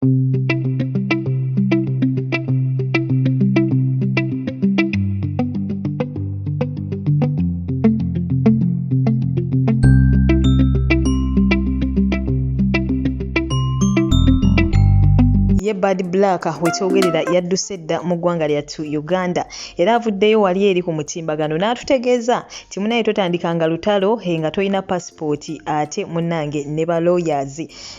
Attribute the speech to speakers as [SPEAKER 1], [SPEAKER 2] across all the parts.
[SPEAKER 1] ye Bad Black wekyogerera yadduse dda mu ggwanga lyattu Uganda era avuddeyo wali eri ku mutimbagano n'atutegeeza nti munaye totandikanga lutalo eh, nga tolina pasipooti ate munnange ne ba lawyers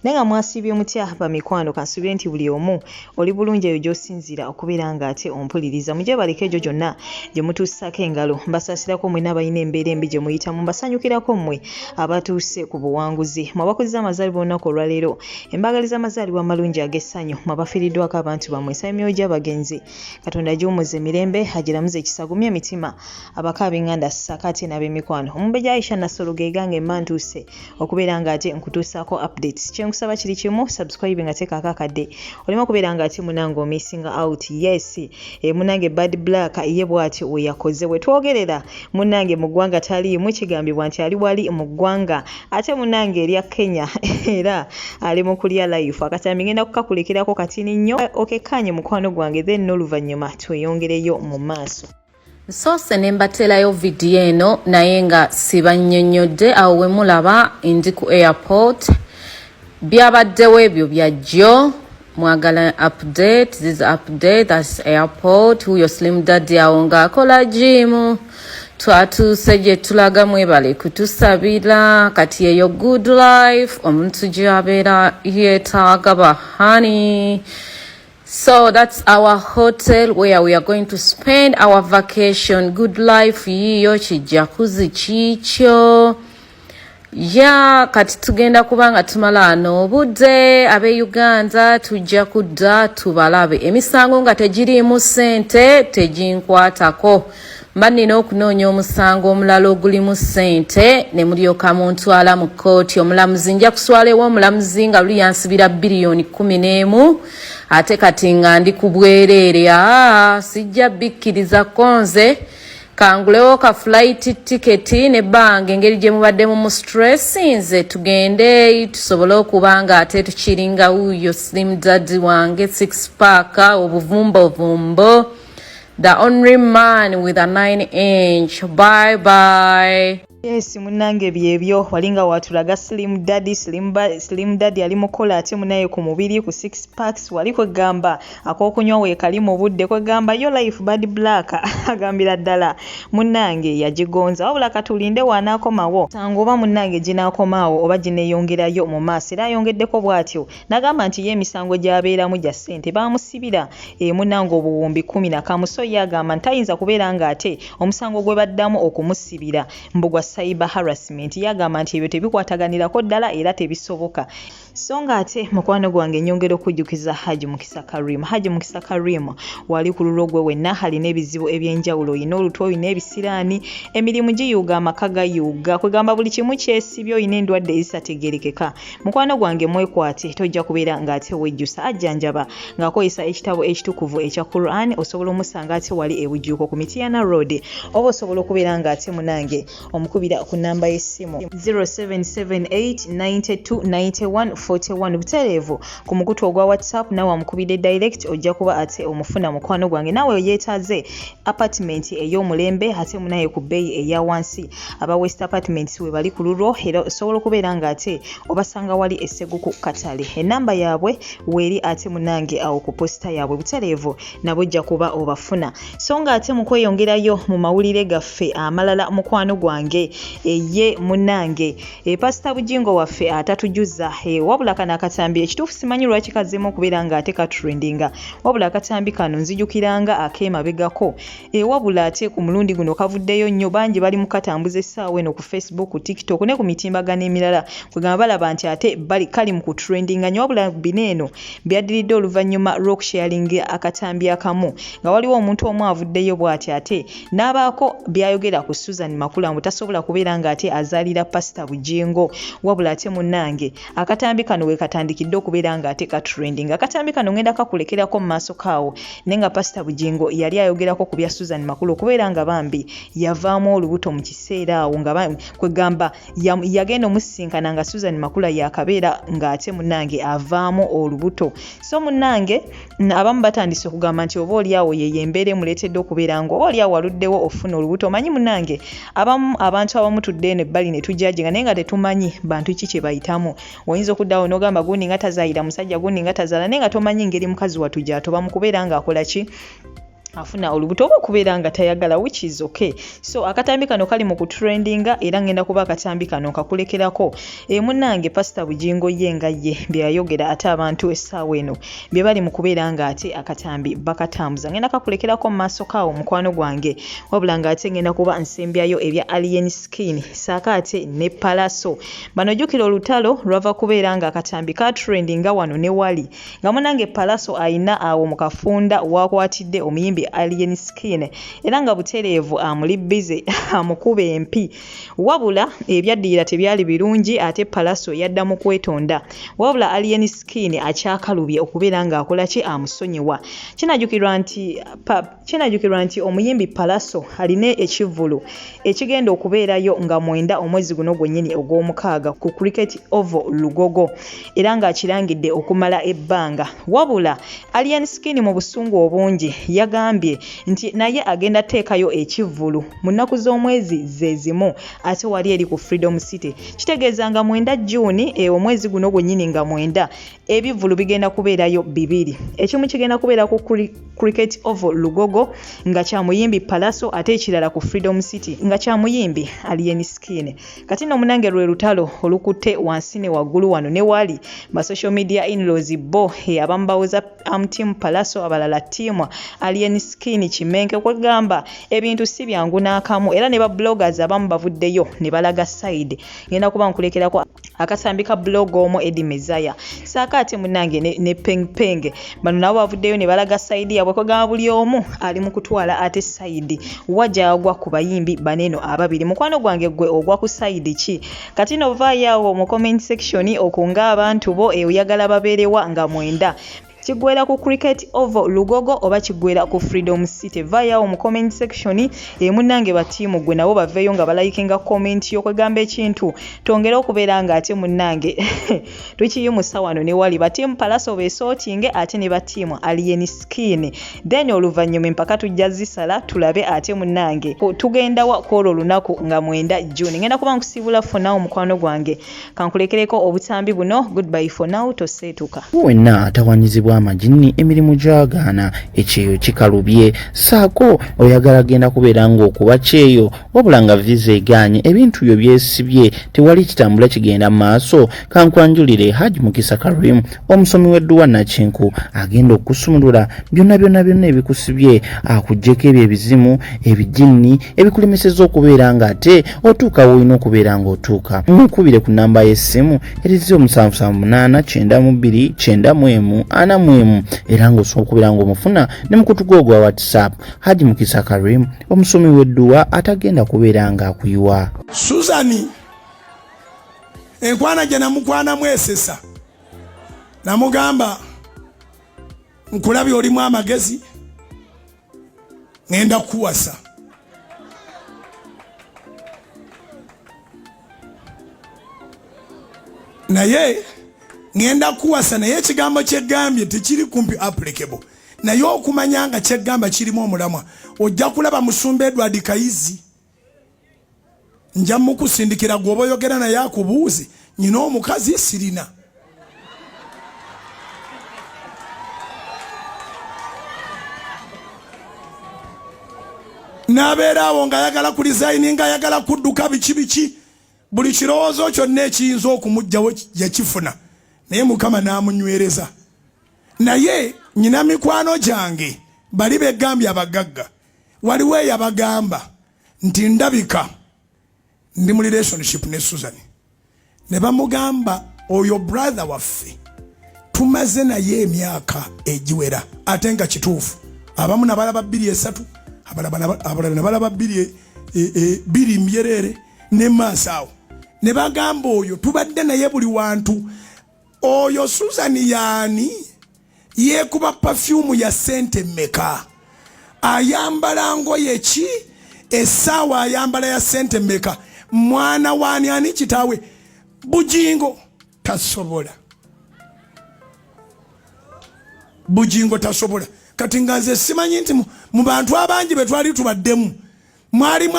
[SPEAKER 1] naye nga mwasiibye mutya bamikwano kansubire nti buli omu oli bulungi eyo gyosinziira okubeera nga ate ompuliriza mujebaleka egyo gyonna gye mutuusako engalo mbasaasirako mwena abalina embeera embi gye muyitamu mbasanyukirako mmwe abatuuse ku buwanguzi mwabakuziza amazaalibwa olunaku olwaleero embagaliza amazaalibwa amalungi ag'essanyu mwabafiiriddwako abantu bamwe nsaba emyoyo gy'abagenzi katonda agiwumuze emirembe agiramuze ekisagumye emitima abakaabinganda sakaate n'ab'emikwano omumbeja aisha nassolo gegange mba ntuuse okubeera nga ate nkutuusaako updates kyenkusaba kiri kimu subscribe nga teekaako akadde olema okubeera nga ate munange omissinga out yes e munange bad black ye bwatyo weyakoze wetwogerera munange mu ggwanga taliimu kigambibwa nti ali wali mu ggwanga ate munange erya kenya era ali mu kulya life akatambi ngenda kukakulekerako katini nnyo okekkaanye mukwano gwange then n'oluvannyuma tweyongereyo mu maaso Nsoose ne
[SPEAKER 2] mbateerayo vidiyo eno naye nga sibannyonnyodde awo we mulaba ndi ku airport byabaddewo ebyo byajjo mwagala update this update that's airport huyo slim daddy awo nga akola jiimu twatuuse gye tulaga mwebale kutusabira kati eyo good life omuntu gyabeera yeetaaga bahani So that's our hotel where we are going to spend our vacation. Good life yiyo kijakuzi kikyo. Ya kati tugenda kubanga tumala ano obudde abe Uganda tujja kudda tubalabe emisango nga tegiriimu sente teginkwatako. mba nnina okunoonya omusango omulala ogulimu ssente ne mulyoka muntwala mu kkooti omulamuzi nja kuswala ewa omulamuzi nga luli yansibira biliyoni kkumi n'emu ate kati nga ndi ku bwereere aa sijja bikkiriza konze kangulewo ka fulayiti tiketi ne bbanga engeri gye mubadde mu mustressinze tugende tusobole okuba nga ate tukiringa wuuyo slim dadi wange six paaka obuvumbovumbo The only man with a 9 inch. Bye bye. Yes, munange
[SPEAKER 1] byebyo walinga watulaga slim daddy slim, ba, slim daddy ali mukola ate munaye ku mubiri ku six packs wali kwegamba akokunywa wekali mu budde kwegamba yo life bad black agambira ddala munange yagigonza wabula katulinde wanaakomawo sango oba munange ginaakomaawo oba gineyongerayo mu maaso era ayongeddeko bw'atyo Nagamba nti ye emisango gy'abeeramu gya ssente baamusibira emu nange obuwumbi kumi na kamu so ye agamba nti tayinza kubeera ng'ate omusango gwe baddamu okumusibira mbu gwa cyber harassment ye agamba nti ebyo tebikwataganirako ddala era tebisoboka so ng'ate mukwano gwange nyongera okujjukiza Haji Mukisa Karim Haji Mukisa Karim wali ku lulwo gwe wenna alina ebizibu eby'enjawulo olina olutwe olina ebisiraani emirimu giyuuga amaka gayuuga kwegamba buli kimu kyesibye olina endwadde ezitategeerekeka mukwano gwange mwekwate tojja kubeera ng'ate wejjusa ajjanjaba ng'akozesa ekitabo ekitukuvu ekya quran osobola omusanga ate wali ebujjuuko ku mitiyana road oba osobola okubeera ng'ate munange omukubira ku namba y'essimu 0778929141 butereevu ku mukutu ogwa whatsapp nawe amukubidde direct ojja kuba ate omufuna mukwano gwange nawe yeetaaze apatimenti ey'omulembe ate munaye ku bbeeyi eya wansi aba west apatimenti we bali ku lulwo era osobola okubeera nga ate obasanga wali essegu ku katale ennamba yaabwe weeri ate munange awo ku posita yaabwe butereevu nabo ojja kuba obafuna so nga ate mu kweyongerayo mu mawulire gaffe amalala mukwano gwange eye munange e pasita bujingo waffe atatujuza e wabula kano akatambi ekituufu simanyi lwaki kazzeemu okubeera nga ate katrendinga wabula akatambi kano nzijukira nga ak'emabegako e wabula ate ku mulundi guno kavuddeyo nnyo bangi bali mu katambuza essaawa eno ku facebook ku tiktok ne ku mitimbagano emirala kwegamba balaba nti ate bali kali mu kutrendinga nnyo wabula bino eno byaddiridde oluvannyuma lw'okusharinga akatambi akamu nga waliwo omuntu omu avuddeyo bw'ati ate n'abaako by'ayogera ku susan makula mbu tasobola kubeera ng'ate azaalira pasita bujingo wabula ate munnange akatambi kano wekatandikidde okubeera nga ate ka trending akatambi kano ngenda kakulekerako mu maaso kaawo naye nga pasita bugingo yali ayogerako ku bya susan makulu okubeera nga bambi yavaamu olubuto mu kiseera awo nga kwegamba yagenda omusisinkana nga susan makula yakabeera ng'ate munange avaamu olubuto so munange abamu batandise okugamba nti oba olyawo yeyo embeera emuleetedde okubeera nga oba olyawo waluddewo ofuna olubuto omanyi munange abamu abantu abamu tudde eno ebbali ne tujajenga naye nga tetumanyi bantu ki kye bayitamu oyinza okuddawo n'ogamba gundi nga tazayira musajja gundi nga tazala naye nga tomanyi ngeri mukazi watu gyatoba mu kubeera ng'akola ki afuna olubuto oba okubeera nga tayagala which is okay so akatambi kano kali mu kutrendinga era ngenda kuba akatambi kano nkakulekerako e munange pasita bugingo ye nga ye byeyayogera ate abantu essaawa eno bye bali mu kubeera nga ate akatambi bakatambuza ngenda kakulekerako mu maaso kaawo mukwano gwange wabula nga ate ngenda kuba nsembyayo ebya alien skin saako ate ne palaso bano jjukira olutalo lwava kubeera nga akatambi katrendinga wano ne wali nga munange palaso alina awo mu kafunda wakwatidde omuyimbi alien skin era nga butereevu amuli bize amukuba empi wabula ebyaddirira tebyali birungi ate palaso yadda mu kwetonda wabula alien skin akyakalubye okubeera ng'akola ki amusonyiwa kinajukirwa nti Kinajukirwa nti omuyimbi Pallaso alina ekivvulu ekigenda okubeerayo nga mwenda omwezi guno gwennyini ogw'omukaaga ku Cricket Oval Lugogo era ng'akirangidde okumala ebbanga. Wabula Alien Skin mu busungu obungi yagambye nti naye agenda teekayo ekivvulu mu nnaku z'omwezi ze zimu ate wali eri ku Freedom City. Kitegeeza nga mwenda June e omwezi guno gwennyini nga mwenda ebivvulu bigenda kubeerayo bibiri ekimu kigenda kubeera ku cricket oval lugogo nga kyamuyimbi palaso ate ekirala ku freedom city nga kyamuyimbi alien skin kati no munange lwe lutalo olukutte wansi ne waggulu wano ne waali ba social media inlaws bo abamu bawoza am team palaso abalala team alien skin kimenke kwegamba ebintu si byangu n'akamu era ne ba bloggers abamu bavuddeyo ne balaga side ngenda kuba nkulekerako akasambi ka blog omu edi mezaya saaka ate munange ne, ne peng peng bano nabo bavuddeyo ne balaga saidi yabwe kwegamba buli omu ali mu kutwala ate saidi wajagwa ku bayimbi baneno ababiri mukwano gwange gwe ogwa ku saidi ki kati novaayo awo mu comment section okunga abantu bo euyagala babeerewa nga mwenda kigwera ku cricket oval lugogo oba kigwera ku freedom city vayawo mu comment section emunange eh, batiimu gwe nabo baveeyo nga balayikinga comment yo kwegamba ekintu tongere okubeera nga ate munange tukiyimusa wano newali batiimu palaso besotinge ate ne batiimu alien skin then oluvannyuma empaka tujja zisala tulabe ate munange tugendawa kwolwo olunaku nga mwenda june ngenda kuba nkusiibula fonawo mukwano gwange kankulekereko obutambi buno goodbye for now toseetuka wenna atawanyizibwa
[SPEAKER 3] amajinni emirimu gyagaana ekyeyo kikalubye saako oyagala genda kubeera ng'okuba kyeyo wabula nga viza egaanye ebintu byo byesibye tewali kitambula kigenda mu maaso kankwanjulire haj mukisa karim omusomi w'edduwa nakinku agenda okusumulula byonna byonna byonna ebikusibye akugyeko ebyo ebizimu ebijinni ebikulemeseza okubeera nga ate otuuka woolina okubeera nga otuuka mukubire ku namba y'essimu erizi omusanvu sanvu munaana kyenda mu bbiri kyenda mu emu ana mu emu era ng'osobola okubeera ng'omufuna ne mukutu gwo ogwa whatsapp haji mukisa karim omusomi w'edduwa atagenda kubeera ng'akuyiwa suzani
[SPEAKER 4] enkwana gye namukwanamu esesa namugamba nkulabye olimu amagezi ŋenda kukuwasa naye ŋenda kukuwasa naye ekigambo kyegambye tekiri kumpi applicable naye okumanya nga kyegamba kirimu omulamwa ojja kulaba musumba edward kayizi nja mukusindikira gwoba oyogera naye akubuuze nyina omukazi sirina nabeera awo nga ayagala ku lizayini nga ayagala kudduka biki biki buli kirowoozo kyonna ekiyinza okumugjawo yakifuna naye mukama namunywereza naye nyina mikwano gyange bali begambye abagagga waliwo eyabagamba nti ndabika ndi mu relationship ne susan ne bamugamba oyo brother waffe tumaze naye emyaka egiwera ate nga kituufu abamu nabalaba bbiri esatu abalala nabalaba bbiri e, e, e, biri mbyereere ne maaso awo ne bagamba oyo tubadde naye buli wantu oyo susan yaani yeekuba pafyumu ya ssente mmeka ayambala ngoye ki essaawa ayambala ya ssente mmeka mwana waani ani kitaawe bugingo tasobola bugingo tasobola kati nga nze simanyi nti mu bantu abangi be twali tubaddemu mwalimu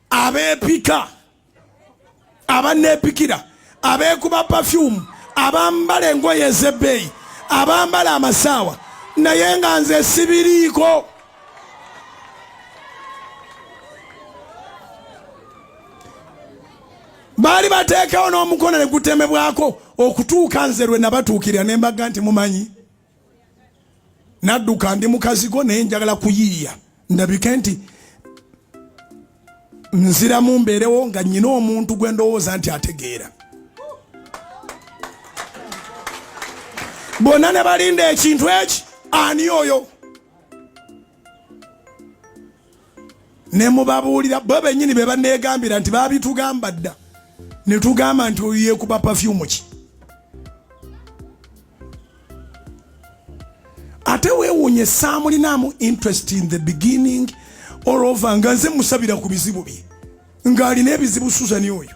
[SPEAKER 4] abeepika abanneepikira abeekuba pafyumu abambala engoye ez'ebbeeyi abambala amasaawa naye nga nze sibiriiko baali bateekawo n'omukono ne gutemebwako okutuuka nze lwe nabatuukirira ne mbaga nti mumanyi nadduka ndi mukazigo naye njagala kuyiiya ndabike nti nziramu mbeerewo nga nyina omuntu gwe ndowooza nti ategeera bonna ne balinda ekintu eki ani oyo ne mubabuulira bo bennyini be baneegambira nti baabitugamba dda ne tugamba nti oyo yeekuba pafyumu ki ate weewuunye saamulinamu interest in the beginning all over nga nze musabira ku bizibu bye ng'alina ebizibu suzani oyo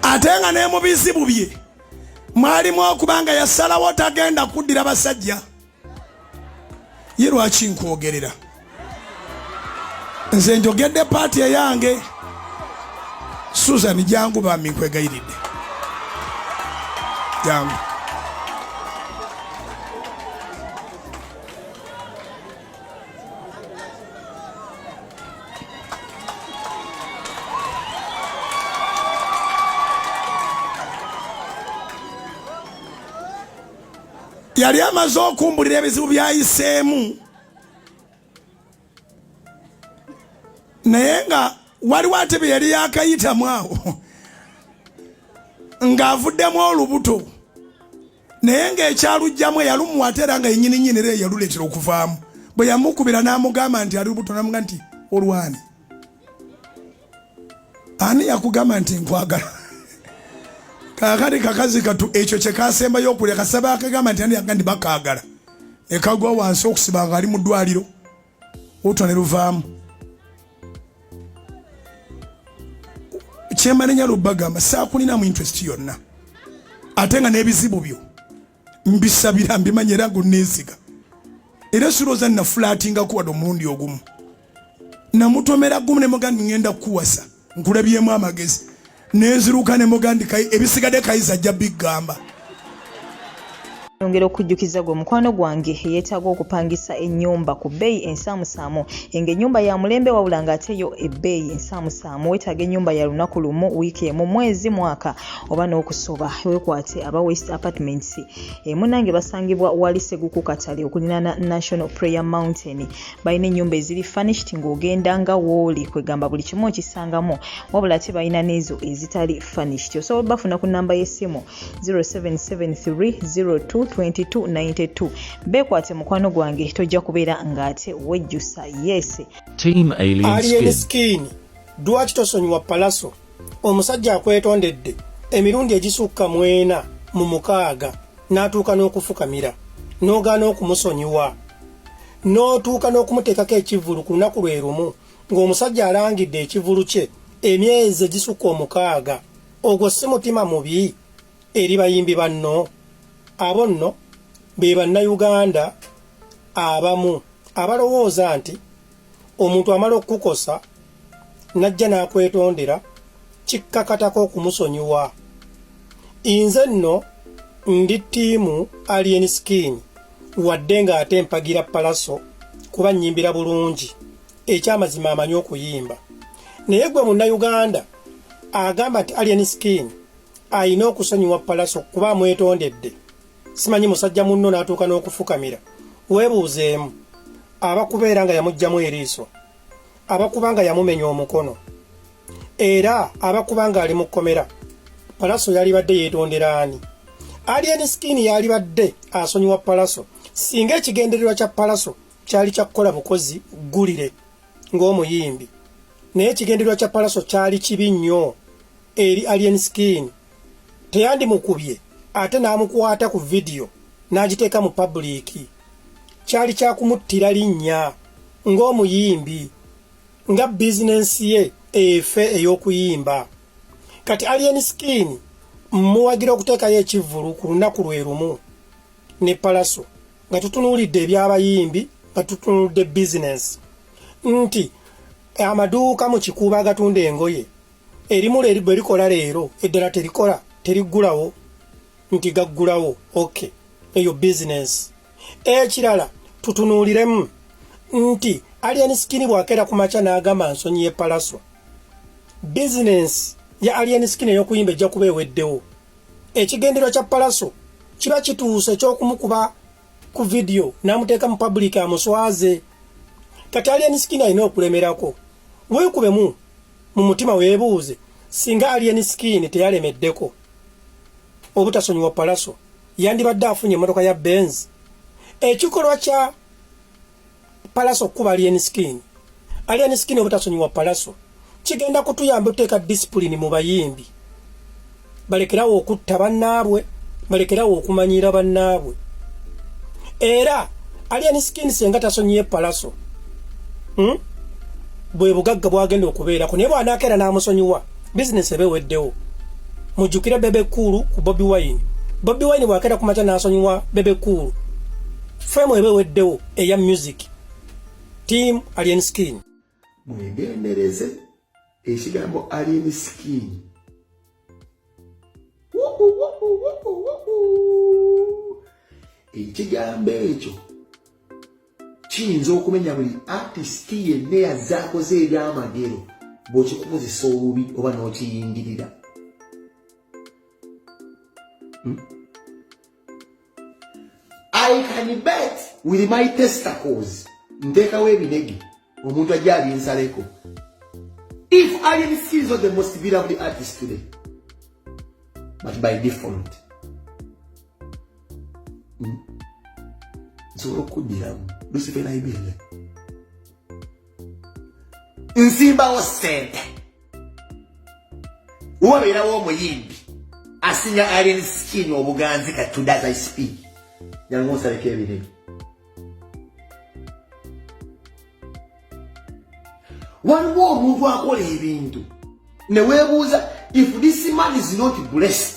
[SPEAKER 4] ate nga ne mu bizibu bye mwalimu okubanga yasalawo tagenda kuddira basajja ye lwaki nkwogerera nze njogedde paati eyange susan jangu bambi nkwegayiridde jangu yali amaze okumbulira ebizibu byayiseemu naye nga waliwo ate bye yali yakayitamu awo ng'avuddemu olubuto naye ng'ekyalugjamu eyalumuwa ate era nga yenyini nyini era eyaluleetera okuvaamu bwe yamukubira n'amugamba nti ali lubuto namuga nti olwani ani yakugamba nti nkwagala kakati kakazi katu ekyo kyekasembayo okulya kasaba akagamba nti andiyaga ndi bakagala nekagwa wansi okusiba nga ali mu ddwaliro otwa ne luvaamu kyemanenya lubagamba sakulinamu interest yonna ate nga n'ebizibu byo mbisabira mbimanya era ngonneesiga era sirooza nafulaatingako wadde omulundi ogumu namutomera gumu ne mugandi ŋŋenda kukuwasa nkulabyemu amagezi nenziruka ne mugandi ebisigadde kayiza ajja biggamba
[SPEAKER 1] yongera okujjukiza gwe mukwano gwange yeetaaga okupangisa ennyumba ku bbeeyi ensaamusaamu enga ennyumba ya mulembe wabula ng'ate yo ebbeeyi ensaamusaamu weetaaga ennyumba ya lunaku lumu wiiki emu mwezi mwaka oba n'okusoba wekwate aba west apartments emunange eh, basangibwa wali seguku katale okulinana national prayer mountain balina ennyumba eziri furnished ng'ogenda nga wooli kwegamba buli kimu okisangamu wabula ate balina n'ezo ezitali furnished osobola bafuna ku namba y'essimu 0773022292 beekwate mukwano gwange tojja kubeera ng'ate wejjusa yes team
[SPEAKER 5] alien skin
[SPEAKER 6] dwaki tosonyiwa palaso omusajja akwetondedde emirundi egisukka mu ena mu mukaaga n'atuuka n'okufukamira n'ogaana okumusonyiwa n'otuuka n'okumuteekako ekivvulu ku lunaku lwe lumu ng'omusajja alangidde ekivulu kye emyezi egisukka omukaaga ogwo si mutima mubi eri bayimbi banno abo nno be bannayuganda abamu abalowooza nti omuntu amala okukukosa najja n'akwetondera kikkakatako okumusonyiwa inze nno ndi ttiimu alien skin wadde ng'ate mpagira palaso kuba nnyimbira bulungi ekyamazima amanyi okuyimba naye gwe munnayuganda agamba nti alien skin alina okusonyiwa palaso kuba amwetondedde simanyi musajja munno n'atuuka n'okufukamira weebuuzeemu abakubeera nga yamugjamu eriiso abakuba nga yamumenya omukono era abakuba nga ali mu kkomera palaso yalibadde yeetondera ani alien skin yalibadde asonyiwa palaso singa ekigendererwa kya palaso kyali kya kukola bukozi ggulire ng'omuyimbi naye ekigendererwa kya palaso kyali kibi nnyo eri alien skin teyandimukubye ate n'amukwata ku vidiyo n'agiteeka mu pabuliiki kyali kya kumuttira linnya ng'omuyimbi nga bizinensi ye efe ey'okuyimba kati alien skin mmuwagira okuteekayo ekivvulu ku lunaku lwe lumu ne palaso nga tutunuulidde eby'abayimbi nga tutunudde bizinensi nti amaduuka mu kikuuba agatunda engoye erimu leri bwe likola leero eddala terikola teriggulawo nti gaggulawo ok eyo bizinensi ekirala tutunuuliremu nti alien skin bw'akeera ku makya n'agamba nsonyi y'epalaswa bizinensi ya alien skin ey'okuyimba ejja kuba eweddewo ekigendero kya palaso kiba kituuse eky'okumukuba ku vidiyo n'amuteeka mu pabuliika amuswaze kati alien skin alina okulemerako weekubemu mu mutima weebuuze singa alien skin teyalemeddeko obutasonyiwa palaso yandibadde afunye emmotoka ya benz ekikolwa kya palaso okukuba alien skin alien skin obutasonyiwa palaso kigenda kutuyamba oteeka disipulini mu bayimbi balekerawo okutta bannaabwe balekerawo okumanyiira bannaabwe era alien skin senga tasonyiye palaso hmm? bwe bugagga bwagenda okubeerako naye bwanakeera n'amusonyiwa bizinesi ebe weddewo mujjukire bebe kuulu ku bobi wine bobi wine bwakeera ku makya n'asonyiwa bebe kuulu femu ebe weddewo eya music team alien skin mwegendereze
[SPEAKER 7] ekigambo alien skin ekigambo ekyo kiyinza okumenya buli atisiti yenna yazze akoze ebyamagero bw'okikukozesa obubi oba n'okiyingirira hmm? I can bet with my testicles ntekawo ebinege omuntu ajja abinsaleko if alien skills are the most beloved artist today but by default nsobola hmm, okuddiramu lusife naibele nzimbawo sente wabeerawo omuyimbi asinga alien skin obuganzi kati today as i speak jangu nsaleko ebirebe waliwo omuntu akola ebintu newebuuza if this man is not blessed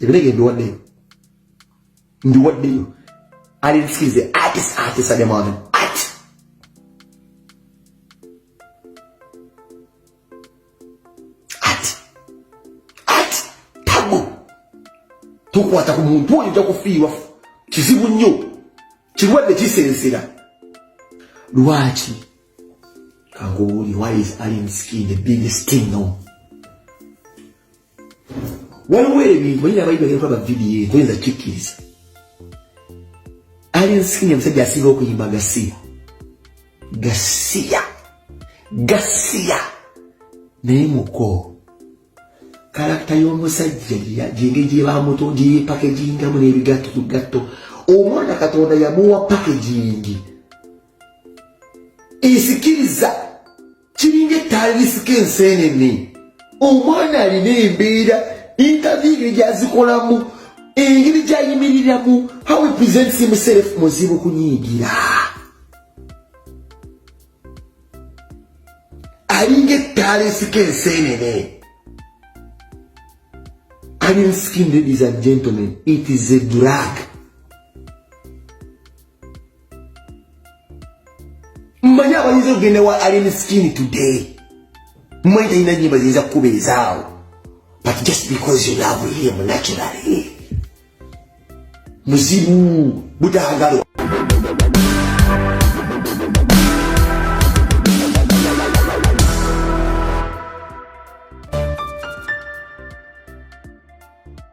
[SPEAKER 7] ebirege mbiwaddeyo mbiwaddeyo ali nsize atis atisa ne mwana ati ati ati tabu tukwata ku muntu oyo ojja kufiirwa kizibu nnyo kirwadde kisensera lwaki kanguwuli why is alien skin a big sting no waliwo ebintu oyina abayi bagenda kulaba vidiyo eyo toyinza kikkiriza alien skin omusajja asinga okuyimba gasiya gasiya gasiya naye muko kalakita y'omusajja gyenge gyebamuto gyeyepakegingamu n'ebigatto ku gatto omwana katonda yamuwa pakegingi esikiriza kiringa ettaali lisika enseenene omwana alina embeera intavi engeri gyazikolamu engeri gyayimiriramu how he presents himself muzibu kunyiigira alinga ettaala esika enseenene alien skin ladies and gentlemen it is a drug mmanyi abayinza okugenda wa alien skin today mmanyi talina nyimba ziyinza kukubeezaawo but just because you love him naturally muzibu butagalwa